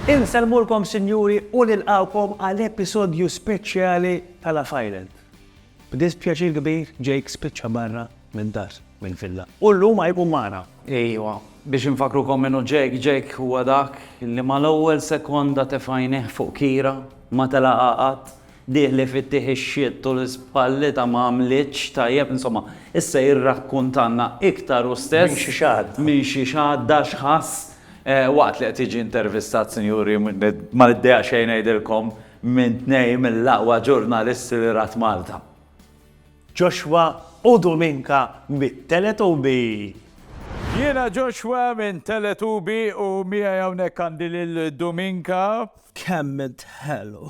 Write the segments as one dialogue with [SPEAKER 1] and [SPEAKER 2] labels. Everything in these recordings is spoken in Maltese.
[SPEAKER 1] Insellmulkom sinjuri u nilqgħukom għal episodju speċjali ta' Love Island. B'dispjaċir kbir Jake spiċċa barra mid-dar, mill-villa, u llum ma jkun magħna. Ejwa,
[SPEAKER 2] biex infakkrukom min hu Jake, Jake huwa dak li mal-ewwel sekonda tefa' għajnejh fuq Kira, ma telaqha qatt, Dieħli fit-tih ix-xitt u l-ispallita ma għamlitx tajjeb, insomma, issa jirrakkuntalna iktar hu stess. Minn xi xahda. Minn xi xahda x'ħass waqt li qed jiġi intervistat, sinjuri, ma niddejjaq xejn ngħidilkom, minn tnejn mill-aqwa ġurnalisti li rat Malta.
[SPEAKER 1] Joshua u Dominka mit-Teletubby.
[SPEAKER 3] Jiena Joshua minn Teletubby u miegħi hawnhekk għandi lil Dominka. Kemm
[SPEAKER 1] int ħelu.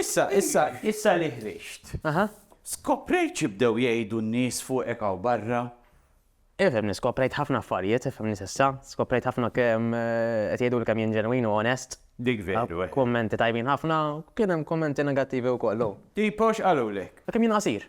[SPEAKER 4] Issa, issa, issa
[SPEAKER 3] li ħriġt, skoprejt xi bdew jgħidu n-nies fuqek hawn barra? Ifhimni,
[SPEAKER 4] skoprejt ħafna affarijiet, ifhimni s'issa. Skoprejt ħafna kemm qed jgħiduli kemm jien ġenwin u onest. Dik veru, eh.
[SPEAKER 3] Kummenti tajbin ħafna,
[SPEAKER 4] kien hemm kummenti negattivi wkoll, oh. Tipo x'qalulek?
[SPEAKER 3] Kemm jien qasir.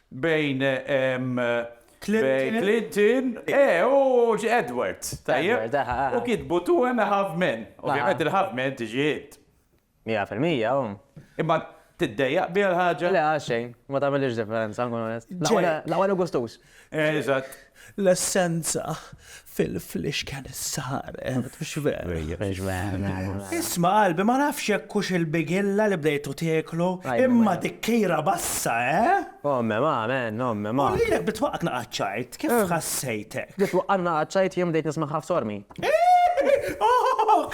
[SPEAKER 3] bejn Clinton u Edward, tajjeb? U kitbu two and a half men. Ovvjament il-half men tiġi int. Mija fil-mija,
[SPEAKER 4] hu. Imma
[SPEAKER 3] tiddejjaq biha l-ħaġa? Le, għalxejn. Ma
[SPEAKER 4] tagħmilix differenza, nkun onest. L-aqwa li gustuż. Eżatt.
[SPEAKER 3] L-essenza
[SPEAKER 1] fil-flixken saret mhux vera. Isma' qalbi ma nafx jekk hux il-bigilla li bdejtu tieklu imma dik kejra bassa, eh! Omme ma,
[SPEAKER 4] man, omme ma. U lilek bdiet twaqqaqna
[SPEAKER 1] għaċ-ċajt, kif ħassejtek? Bdiet twaqqaqna għaċ-ċajt
[SPEAKER 4] jien bdejt nismagħha f'sormi. Ooh!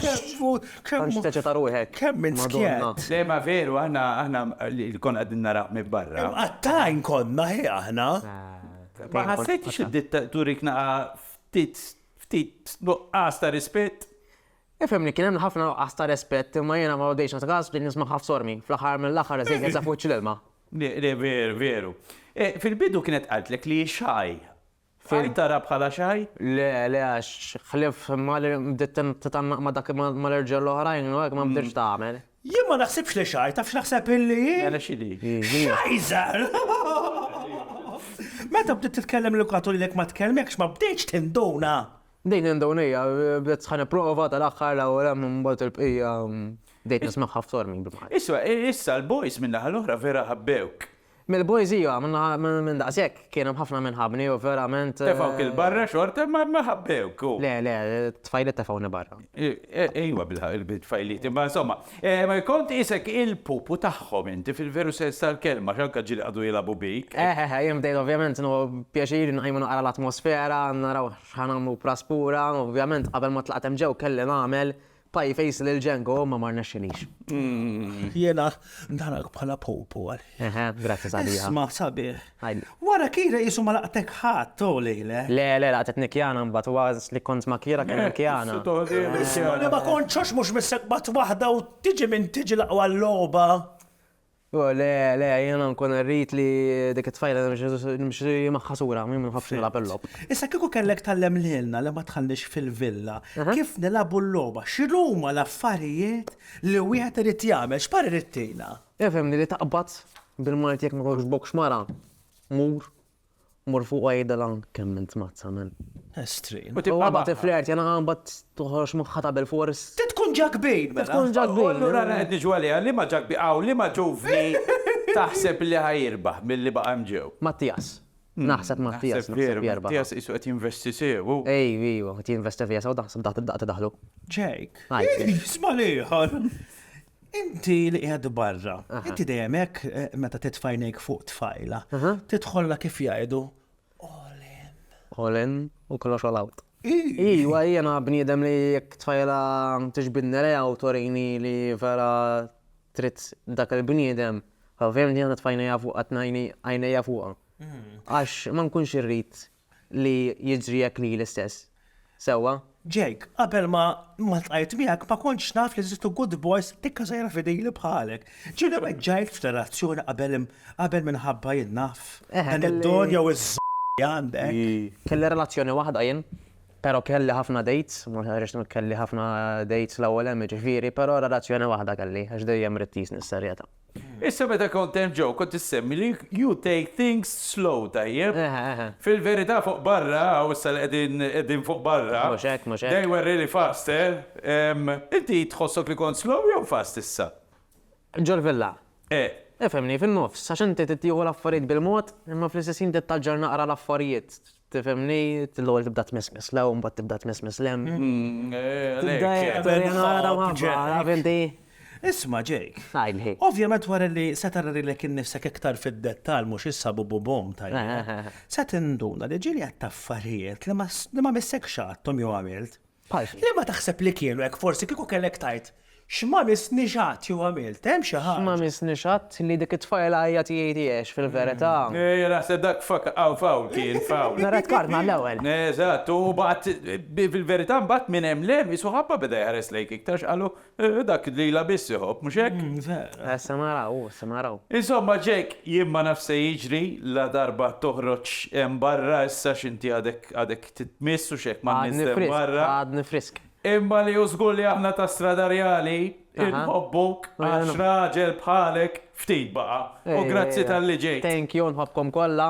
[SPEAKER 4] Kemm hu, kemm hu. Tant x'teċita ruħek. Kemm int skjett.
[SPEAKER 1] Le ma veru aħna,
[SPEAKER 3] aħna li konna qegħdin naraw minn barra. Imqattgħin konna,
[SPEAKER 1] hi aħna. Ma
[SPEAKER 3] ħassejtx id-dittatur jekk naqa' ftit nuqqas ta' rispett? Ifhimni, kien
[SPEAKER 4] hemm ħafna nuqqas ta' rispett imma jiena ma bdejtx nagħti kas bdejt nismagħha f'sormi. Fl-aħħar mill-aħħar Eżil kien saf wiċċ l-ilma. Le, veru,
[SPEAKER 3] veru. Fil-bidu kienet qaltlek li hi xagħi. Bqajt taraha bħala xagħi? Le, le għax
[SPEAKER 4] ħlief ma li bdiet titgħannaq ma' dak mal-irġiel l-oħrajn u hekk ma bdiltx tagħmel. Jien ma naħsibx li
[SPEAKER 1] xgħajr, taf x'naħseb illi hi? Mela x'inhi?
[SPEAKER 3] Xajżar!
[SPEAKER 1] Meta bdiet titkellem l-edukatur jgħidlek ma tkellmekx ma bdejtx tinduna. Bdejt ninduna
[SPEAKER 4] hija, bdiet ħa nipprova tal-aħħar l-ewwel hemm imbagħad il-bqija bdejt nismagħha f'tormi. Isma', issa l-boys
[SPEAKER 3] min-naħa l-oħra vera ħabbewk. Mill-boys iva,
[SPEAKER 4] minn daqshekk kien hemm ħafna min ħabbni u verament. Tefgħuk 'il barra
[SPEAKER 3] xorta imma ma ħabbewk u. Le, le,
[SPEAKER 4] t-tfajliet tefgħuni barra. Ejwa
[SPEAKER 3] bil-ħaqq il-tfajliet imma insomma, kont qisek il-pupu tagħhom inti fil-veru sens tal-kelma għax anke ġieli qagħdu jilagħbu bik. Eħ, eħ, jien bdejt ovvjament
[SPEAKER 4] inhu pjaċir inqajjem u naqra l-atmosfera, naraw x'ħa nagħmlu b'Ras Pura, ovvjament qabel ma tlaqt hemm ġew kelli nagħmel Pie face lil Django imma ma rnexxilix. Jiena
[SPEAKER 1] narak bħala pupu għalih. Eħe, grazzi sabiħa.
[SPEAKER 4] Isma' sabiħ.
[SPEAKER 1] Għidli. Wara Kira qisu ma laqtek ħadd, oh lejlek. Le, le, laqtetni Kiana
[SPEAKER 4] mbagħad u għażiż li kont ma' Kira kien hemm Kiana. Isma' li ma
[SPEAKER 1] kontx għax mhux missek bat waħda u tiġi min tiġi l-aqwa logħba. Hu,
[SPEAKER 4] Le, le, jiena nkun irrid li dik it-tfajla nimxi magħha sura, jien ma nħobbx nilgħab il-logħob. Issa kieku kellek
[SPEAKER 1] tgħallem lilna li ma tħallniex fil-villa kif nilagħbu l-logħba, x'inhuma l-affarijiet li wieħed irid jagħmel, x'parir ittina? Ifhimni li taqbad
[SPEAKER 4] bil-Malti jekk ma jogħġbokx mara, mur. Mur fuq u għidilha kemm int mazza men. Estrin. U tibqa'
[SPEAKER 1] magħha. U tifflirtja
[SPEAKER 4] magħha u mbagħad toħroġ moħħha ta' bilfors. Trid tkun ġakbin
[SPEAKER 1] mela. Trid tkun ġakbin. U allura
[SPEAKER 4] aħna qed niġu għaliha
[SPEAKER 3] liema ġakbin hawn, liema ġuvni taħseb li ħa jirbaħ milli baqa' hemm ġew? Mattias.
[SPEAKER 4] Naħseb Mattias naħseb jerbaħ. Veru, Mattias qisu qed
[SPEAKER 3] jinvesti sew hu. Ejju, qed jinvesti
[SPEAKER 4] fija sew taħseb daqt id-daqt idaħħlu. Jake. Hi.
[SPEAKER 1] Isma' l-ieħor. Inti li qiegħed barra, inti dejjem hekk eh, meta titfajnejk fuq tfajla,
[SPEAKER 4] tidħolla
[SPEAKER 1] kif
[SPEAKER 4] jgħidu all in.
[SPEAKER 1] All
[SPEAKER 4] in u
[SPEAKER 1] kollox all
[SPEAKER 4] out. Iwa, jiena bniedem li jekk tfajla tixbidni reja u torini li vera trid dak il-bniedem, ovvjament jiena tfajna jafu għatnajni għajna jafuqa. Mm. Għax ma nkunx irrit li jiġri hekk lili stess. Sewwa? Jake, qabel
[SPEAKER 1] ma ltqajt miegħek ma kontx naf li eżistu good boys dikka żgħira fidili bħalek. Ġieli weġġajt f'relazzjoni qabel qabel minħabba jien naf. Dan id-don jew iz-z li għandek. Kelli relazzjoni
[SPEAKER 4] waħda jien, però kelli ħafna dates, ma rridx ngħid kelli ħafna dates l-ewwel hemm jiġifieri, però relazzjoni waħda kelli għax dejjem ridt qisni s-serjetà. Issa meta
[SPEAKER 3] kont hemm ġo kont issemmi li you take things slow, tajjeb? Fil-verità fuq barra, hawn issa li qegħdin qegħdin fuq barra, they were
[SPEAKER 4] really fast,
[SPEAKER 3] eh? Inti tħossok li kont slow jew fast issa? Ġol-villa?
[SPEAKER 4] Eh. Ifhimni,
[SPEAKER 3] fin-nofs,
[SPEAKER 4] għax inti trid tieħu l-affarijiet bil-mod, imma fl-istess ħin tittalġar naqra l-affarijiet. Tifhimni, l-ewwel tibda tmissmiss l-hawn, mbagħad tibda tmissmiss l-hemm. Tibda jekk nara waħda,
[SPEAKER 1] taf inti? Isma' Jake. Ngħidli. Ovvjament
[SPEAKER 4] wara li
[SPEAKER 1] se tara lilek innifsek iktar fid-dettall mhux issa bububum tajjeb, se tinduna li ġieli għedt affarijiet li ma missekx għadthom jew għamilt. Bħal. Liema taħseb li kienu hekk forsi kieku kellek tgħid, x'ma missniex qatt jew għamilt, hemm xi ħaġa. X'ma missniex qatt li
[SPEAKER 4] dik it-tfajla hija tiegħi tiegħek fil-verità. Ejja naħseb dak
[SPEAKER 3] fawl kien, fawl. Mela tkkartna l-ewwel.
[SPEAKER 4] Eżatt, u mbagħad
[SPEAKER 3] fil-verità mbagħad minn hemm 'l hemm isu ħabba beda jħares lejk iktar x'qalu Eh, dak lila biss iħobb, mhux hekk? Mm, vera. Eh, se naraw, u se naraw.
[SPEAKER 4] Insomma, Ġek,
[SPEAKER 3] jien ma naf se jiġri la darba toħroġ hemm barra issa x'inti għadek għadek titmiss u x'hekk ma Għadni frisk, barra. għadni frisk.
[SPEAKER 4] Imma li hu żgur
[SPEAKER 3] li aħna ta' Strada Reali inħobbuk għax raġel bħalek ftit baqa'. U eh, grazzi tal-li ġejt. Thank you, nħobbkom kollha.